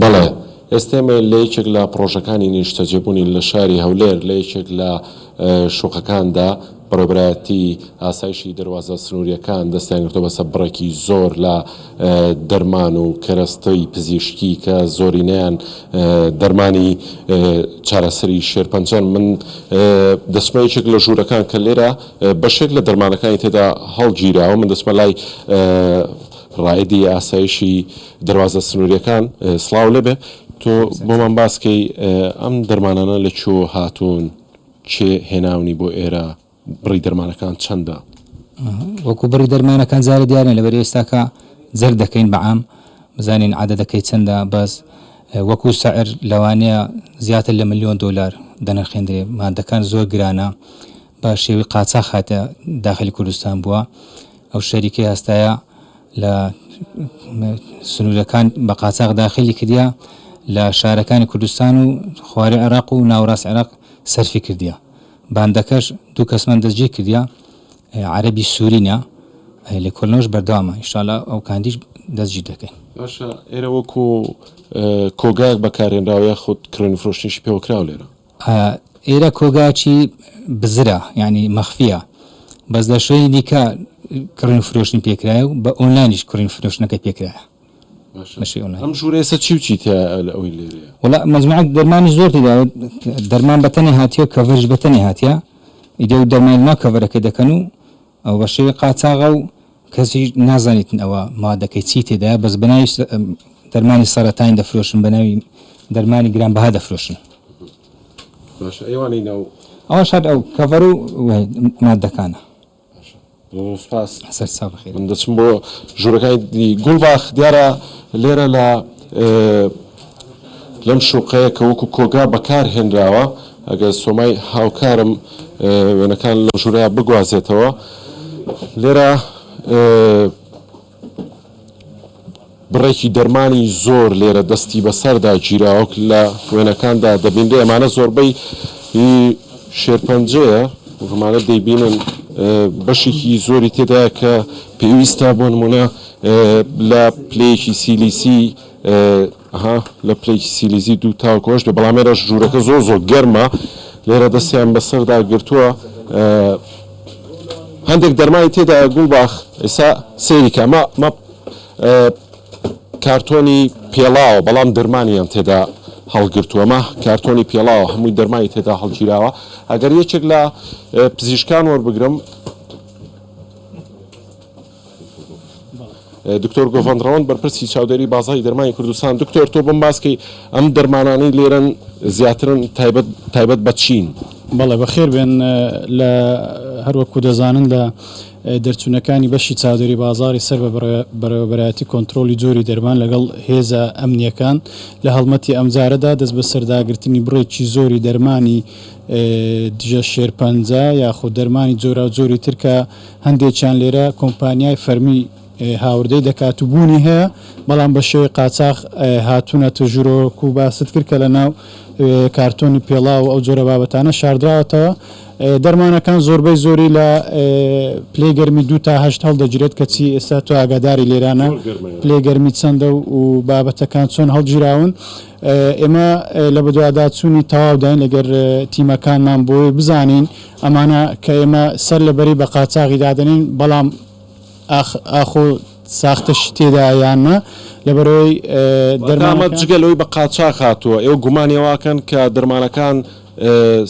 بەڵێ، ئێستێمە لە یەکێک لە پڕۆژەکانی نیشتەجێبوونی لە شاری هەولێر لە یەکێک لە شوقەکاندا بەڕێوبەرایەتی ئاسایشی دەروازە سنوورییەکان دەستیانگرتووە بەسەر بڕێکی زۆر لە دەرمان و کەرەستەی پزیشکی کە زۆرینەیان دەرمانی چارەسەری شێرپەنجەن من دەچمە یەکێک لە ژوورەکان کە لێرە بەشێک لە دەرمانەکانی تێدا هەڵگیراوە من دەچمە لای ڕائدی ئاسایشی دەروازە سنوریەکان سڵاو لێ بێ. تۆ بۆمان باس کەی ئەم دەرمانانە لە کوێوە هاتوون کێ هێناونی بۆ ئێرە بڕی دەرمانەکان چەندە؟ وەکو بڕی دەرمانەکان زارە دیار نیە لەبەر ئێستاکە جەرد دەکەین بە عام بزانین عەدەدەکەی چەندە بەس وەکو سعر لەوانەیە زیاتر لە ملیۆن دۆلار دەنرخێندرێ مادەکان زۆر گرانە بە شێوەی قاچاخ هاتە داخلی کوردستان بووە ئەو شەریکەی هەستایە لە سنوورەکان بە قاچاغ داخیلی کردیە لە شارەکانی کوردستان و خواری عێراق و ناوەراست عێراق سەرفی کردیە. باندەکەش دوو کەسمان دەستگیر کردیە عەرەبی سوورینە. لێکۆلنەوەش بەردەوامە ان شاءاللە ئەو کاندیش دەستگیر دەکەین. باشە ئێرە وەکو کۆگایەک بەکارهێنراوە یاخود کڕین و فرۆشتنیشی پێوەکراوە لێرە؟ ئا ئێرە کۆگاچی بزرە یانی مەخفیە بەس لە شوێنی دیکە کڕین و فرۆشتنی پێ کرایە و بە ئۆنلاینیش کڕین و فرۆشتنەکەی پێ کرایە باشە بەشی ئۆنلاین. ئەم ژورەیسە چی و چی تیایە لە ئەوەی لێرەیە؟ وەڵا مەجموعەک دەرمانیش زۆر تیدایە و دەرمان بەتەنێ هاتیە و کەڤەریش بەتەنێ هاتیە ئیدی و دەرمانی ناو کەڤەرەکەی دەکەن و ئەوە بەشێوەی قاچاغە و کەسیش نازانیتن ئەوە مادەکەی چی تێدایە بەس بەناوی دەرمانی سەرەتانی دەفرۆشن بەناوی دەرمانی گرانبەها دەفرۆشن باشە ئەیوانەی ناو ئەوە شاد ئەو کەڤەر و مادەکانە سپاس سەرچاو بخێر من دەچم بۆ ژوورەکانی گوڵباخ دیارە لێرە لە لەم شوقەیە کە وەکو کۆگا بەکار هێنراوە ئەگەر سۆمای هاوکارم وێنەکان لەو ژورەیا بگوازێتەوە لێرە بڕێکی دەرمانی زۆر لێرە دەستی بەسەردا گیراوەک لە وێنەکاندا دەبینرێ ئەمانە زۆربەی شێرپەنجەیە ومانە دەیبینن بەشێکی زۆری تێدا کە پێویستە بۆ نمونە لە پلەیەکی سیلیسی ئەها لە پلەی سیلیزی دوو تاوەکو ئەوەش بێ بەڵام ئێرەش ژوورەکە زۆر زۆر گەرمە لێرە دەستیان بەسەردا گرتووە هەندێک دەرمای تێدا گوڵباخ ئێسا سەیریکە ئەمە مە کارتۆنی پێڵاوە بەڵام دەرمانیان تێدا هەڵگرتووەمە کارتۆنی پێڵاوە هەمووی دەرمانی تێدا هەڵگیراوە ئەگەر یەکێک لە پزیشکان وەربگرم دکتۆر گۆڤەند ڕەوەند بەرپرسی چاودێری بازاری دەرمانی کوردستان دکتۆر تۆ بم باسکەی ئەم دەرمانانەی لێرەن زیاترن تایبەت تایبەت بە چین بەڵێ بەخێر بێن لە هەروەکو دەزانن لە دەرچوونەکانی بەشی چاودێری بازاری سەر بە بەرەوەبەرایەتی کۆنتترۆلی جۆری دەرمان لەگەڵ هێزە ئەمنیەکان لە هەڵمەتی ئەمجارەدا دەست بە سەرداگرتنی بڕێکی زۆری دەرمانی دژە شێرپەنجە یاخود دەرمانی جۆرا جۆری ترکە هەندێکیان لێرە کۆمپانیای فەرمی هاوردەی دەکات و بوونی هەیە، بەڵام بە شێوەی قاچاخ هاتوونەتە ژوورەوە، وەکو باست کرد کە لەناو کارتۆنی پێڵاو و ئەو جۆرە بابەتانە شاردراوەتەوە. دەرمانەکان زۆربەی زۆری لە پلەی گەرمی دوو تا هەشت هەڵدەگیرێت، کەچی ئێستا تۆ ئاگاداری لێرانە پلەی گەرمی چەندە و بابەتەکان چۆن هەڵگیراون. ئێمە لە بەدواداچوونی تەواوداین لەگەر تیمەکانمان بۆی بزانین ئەمانە کە ئێمە سەر لە بەری بە قاچاغی دادەنێین بەڵام ئاخ ئاخۆ ساختەشی تێدایە یان نا لەبەرئەوەی دەرمانەکان. واتە ئەمە جگە لەوەی بە قاچاغ هاتووە ئێوە گومانی ئەوە ئەکەن کە دەرمانەکان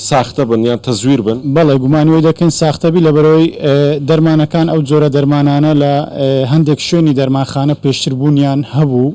ساختە بن یان تەزویر بن؟ بەڵێ گومانی ئەوەی دەکەین ساختە بی لەبەرئەوەی دەرمانەکان ئەو جۆرە دەرمانانە لە هەندێک شوێنی دەرمانخانە پێشتر بوونیان هەبوو،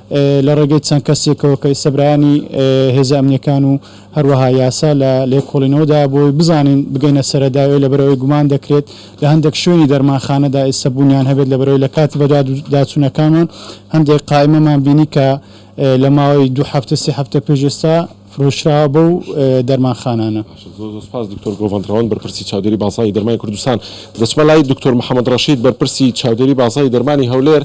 لە ڕێگەی چەند کەسێکەوە کە ئیستە برایانی هێزە ئەمنیەکان و هەروەها یاسا لە لێکۆڵینەوەدا بۆ بزانین بگەینە سەرەداوێ لەبەرەوەی گومان دەکرێت لە هەندێک شوێنی دەرمانخانەدا ئێستا بوونیان هەبێت لەبەرەوەی لە کاتی بەدواداچوونەکانمان هەندێک قائمەمان بینی کە لە ماوەی دوو هەفتە سێ هەفتە پێش ئێستا فرۆشراوە بەو دەرمانخانانە سپاس دکتۆر گۆڤندڕەوەند بەرپرسی چاودێری بازاری دەرمانی کوردستان دەچمە لای دکتۆر محەممەد ڕەشید بەرپرسی چاودێری بازاری دەرمانی هەولێر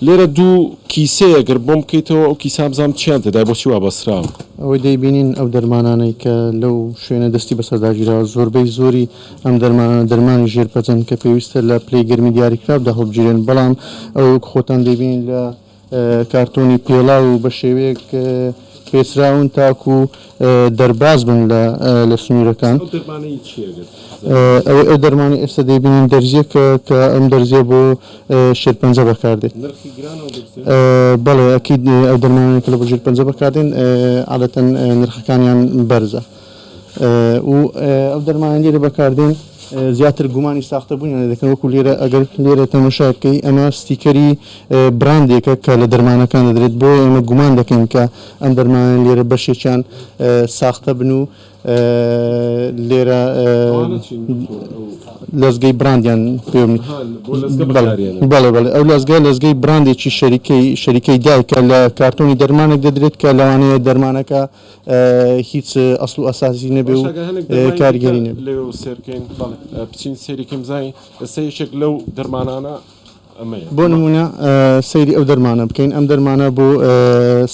لێرە دوو کیسەیە گەر بۆم بکەیتەوە ئەو کیسان بزانم چیان تێدایە بۆچی وا بەستراوە. ئەوەی دەیبینین ئەو دەرمانانەی کە لەو شوێنە دەستی بەسەرداگیراوە زۆربەی زۆری ئەم دەرمانانە دەرمانی ژێر پەتن کە پێویستە لە پلەی گەرمی دیاریکراودا هەڵبگیرێن بەڵام ئەوەی وەکو خۆتان دەیبینین لە کارتۆنی پێڵاو و بەشێوەیەک پێچراون تاکو دەرباز بن لە لە سنوورەکان. ئەو دەرمانەی چیە گەر زانیاری ئەوەی ئەو دەرمانەی ئێستا دەیبینین دەرزیەکە کە ئەم دەرزیە بۆ شێرپەنجە بەکار دێت نرخی گرانە ئەو دەرزیە؟ بەڵێ ئەکید ئەو دەرمانانەی کە لە بۆ ژێرپەنجە بەکار دێن عادەتەن نرخەکانیان بەرزە و ئەو دەرمانەی لێرە بەکار دێن زیاتر گومانی ساختە بوونیان لێ دەکەن وەکو لێرە ئەگەر لێرە تەمەشای بکەی ئەمە ستیکەری براندێکە کە لە دەرمانەکان دەدرێت بۆیە ئێمە گومان دەکەین کە ئەم دەرمانانە لێرە بەشێکیان ساختە بن و لێرە لەزگەی براندیان پێ بەڵێ بەڵێ ئەو لەزگە لەزگەی براندێکی شەریکەی شەریکەی دایکە لە کارتۆنی دەرمانێک دەدرێت کە لەوانەیە دەرمانەکە هیچ ئەسڵ و ئەسازی نەبێ و کارگەری نەبێ سێرکەین بچین سێریکەم زای ئەسە یەکێک لەو دەرمانانە بۆ نموونە سەیری ئەو دەرمانە بکەین ئەم دەرمانە بۆ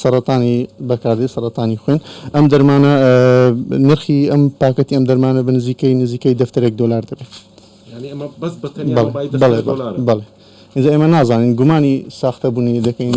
سەرەتانی بەکاردێ سەرەتانی خوێن ئەم دەرمانە نرخی ئەم پاکەتی ئەم دەرمانە بە نزیکەی نزیکەی دەفتەرێک دۆلار دەبێت بەڵێ بەڵێ ئینجا ئێمە نازانین گومانی ساختە بوونی دەکەین.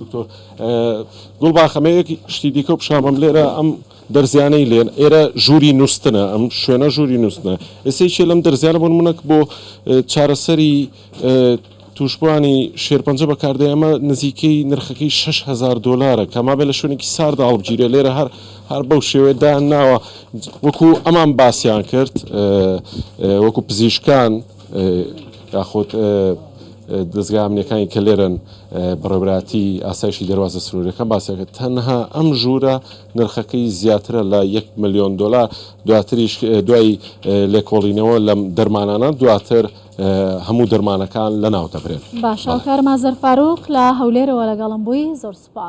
دکتۆر گوڵباخ ئەمە یەک شتی دیکە و پیشامەم لێرە ئەم دەرزیانەی لێن ئێرە ژووری نووسنە ئەم شوێنە ژووری نووسنە ئێسەیشێ لەم دەرزیانە بۆن منەک بۆ چارەسەری توشبووانی شێرپەنجە بەکاردێ ئەمە نزیکەی نرخەکەی 6هزار دلارە کەمابێ لە شوێنێکی ساردا هەڵبگیرێ لێرە هەر هەر بەو شێوێ دایان ناوە وەکو ئەمان باسیان کرد وەکو پزیشکان یاخود دەزگا ئەمنیەکانی کە لێرەن بەڕێوبەرایەتی ئاسایشی دەروازە سنوریەکان باسیانکرد تەنها ئەم ژوورە نرخەکەی زیاترە لە یەک ملیۆن دۆلار دواتریش دوای لێکۆڵینەوە لەم دەرمانانە دواتر هەموو دەرمانەکان لەناو دەبرێن. باشە کارمازەر فاروق لە هەولێرەوە لەگەڵم بووی زۆر سوپاس.